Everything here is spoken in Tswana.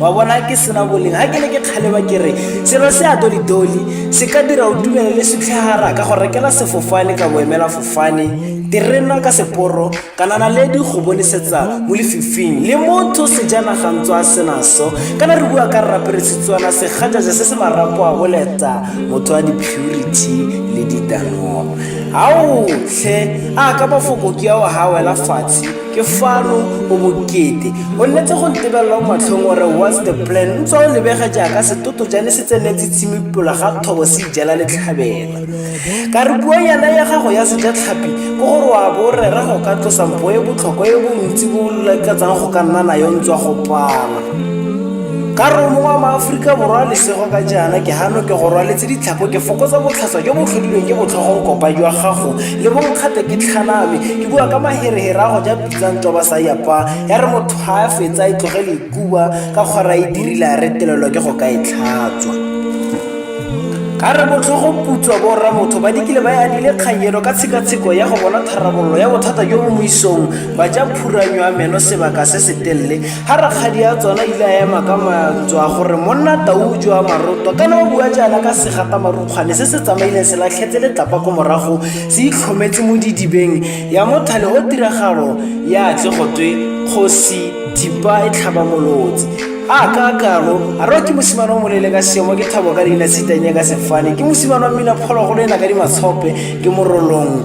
wa bona ke sena boleng ga ke ne ke kgaleba ke re selo se a dolidoli se ka dira o tumele le setlhagara ka go rekela sefofane ka boemela fofane terena ka seporo kana na le di go bonisetsa mo lefifing le motho sejana gantswa a senaso kana re bua ka rrapere setswana segajaja se se marapo a boleta motho wa di-purity le ditanong ao tlhe a ka mafoko ke ao ga wela fatshe ke fano o bokete o nnetse go ntebelelwa matlhong gore what's the plan ntswa o lebega jaaka setoto jane se tsenetse tshimi pola ga thobo se ijela letlhabela ka re puo yana ya gago ya sejatlhapi ko gore wa bo rera go ka tlosa mpo e botlhokwa e bontsi bo lakatsang go ka nna nayo ntswa go pala ka romo wa maaforika borwa lesego ka jaana ke gano ke go rwaletse ditlhako ke fokotsa botlhaswa jo bo tlhodilweng ke botlhogonkopwa jwa gago le bonkgate ke tlhaname ke bua ka maherehere a go ja pitsang toba sa yapa ya re motho ga a fetsa e tlogele ikuba ka kgora e dirile a retelelwa ke go ka e tlhatswa ka re botlhogo putswa borra motho ba dikile ba yadile kganyelo ka tshekatsheko ya go bona tharabololo ya bothata jo bo moisong ba ja phuranyo ya meno sebaka se se telele ga rakgadi ya tsona ile a ema ka mantswe a gore monna tau jwa maroto kana o bua jaana ka segata marukgwane se se tsamaileng se latlhetse letlapa ko morago se itlhometse mo didibeng ya mothale o tiragalo ya tle go twe kgosi thipa e tlhaba molotsi a ka kalo a re ke mosimane o molele ka seemo ke thabo ka leina sitanye ka sefane ke mosimane wa mmina phologolo e na ka dimatshope ke morolong